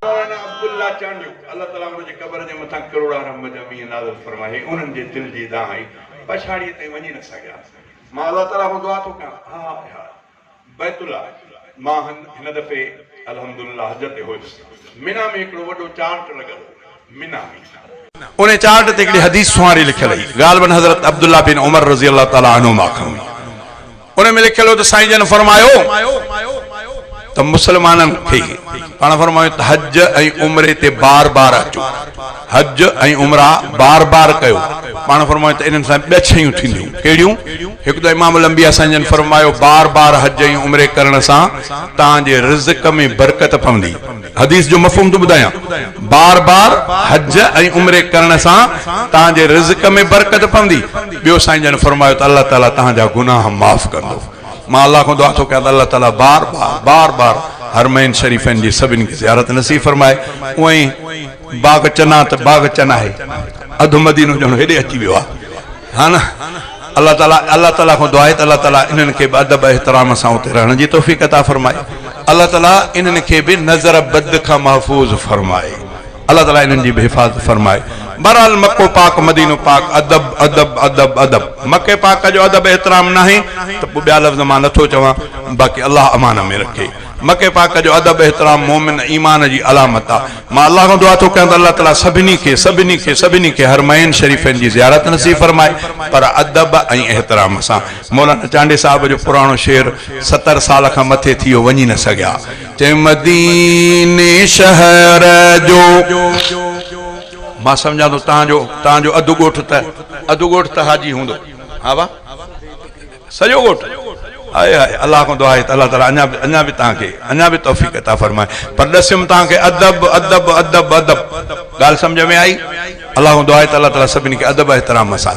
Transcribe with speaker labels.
Speaker 1: مولانا عبدالله چانڊيو الله تعالي انهن جي قبر جي مٿان ڪروڙا رحمت جا مينهن نازل فرمائي انهن جي دل جي دانهن پڇاڙيء تائين وڃي نه سگهيا مان الله تعالي کان دعا ٿو ڪيان هاء هاء بيت الله مان هن دفعي الحمدلله حج تي هيس منيٰ ۾ هڪڙو وڏو چارٽ لڳل هو انهيء چارٽ تي هڪڙي حديث سونهاري لکيل هئي، غالباً حضرت عبدالله بن عمر رضي الله تعالٰي عنهما کان هئي. ان ۾ لکيل هو ته سائين جن فرمايو ته مسلمانن کي پاڻ فرمايو ته حج ۽ عمري تي بار بار اچو، حج ۽ عمرا بار بار ڪيو، پاڻ فرمايو ته انهن سان ٻه شيون ٿينديون، ڪهڙيون؟ هڪ ته امام الانبياء سائين جن فرمايو بار بار حج ۽ عمري ڪرڻ سان توهان جي رزق ۾ برڪت پوندي. حديث جو مفهوم ٿو ٻڌايان، بار بار حج ۽ عمري ڪرڻ سان توهان جي رزق ۾ برڪت پوندي. ٻيو سائين جن فرمايو ته الله تعالي توهان جا گناهه معاف ڪندو. مان الله کان دعا ٿو ڪيان ته الله تعالي بار بار بار بار حرمين شريفين جي سڀني کي زيارت نصيب فرمائي. اونئين باغ چنا ته باغ چنا آهي، اڌ مدينو ڄڻ هيڏي اچي ويو آهي. ها نه؟ الله تعالي الله تعالي کان دعا آهي ته الله تعالي انهن کي به ادب احترام سان اتي رهڻ جي توفيق عطا فرمائي. الله تعالي انهن کي به نظر بد کان محفوظ فرمائي. الله تعالي انهن جي به حفاظت فرمائي. بهرحال مڪو پاڪ مدينو پاڪ ادب ادب ادب ادب مڪي پاڪ جو ادب احترام ناهي ته پوء ٻيا لفظ مان نٿو چوان باقي الله امان ۾ رکي. مڪي پاڪ جو ادب احترام مؤمن ايمان جي علامت آ. مان الله کان دعا ٿو ڪريان ته الله تعالي سڀني کي سڀني کي سڀني کي حرمين شريفين جي زيارت نصيب فرمائي پر ادب ۽ احترام سان مولانا چانڊئي صاحب جو پراڻو شعر ستر سال کان مٿي ٿي ويو وڃي نه سگهيا چي مديني شهر جو مان سمجهان ٿو تهان جو تهان جو اڌ ڳوٺ ته اڌ ڳوٺ ته حاجي هوندو ها واهه. سڄو ڳوٺ هائي هائي الله کان دعا آهي ته الله تعالي اڃا به اڃا به توهان کي اڃا به توفيق عطا فرمائي پر ڏسيم توهان کي ادب ادب ادب ادب ڳالهه سمجهه ۾ آئي الله کان دعا آهي ته الله تعالي سڀني کي ادب احترام سان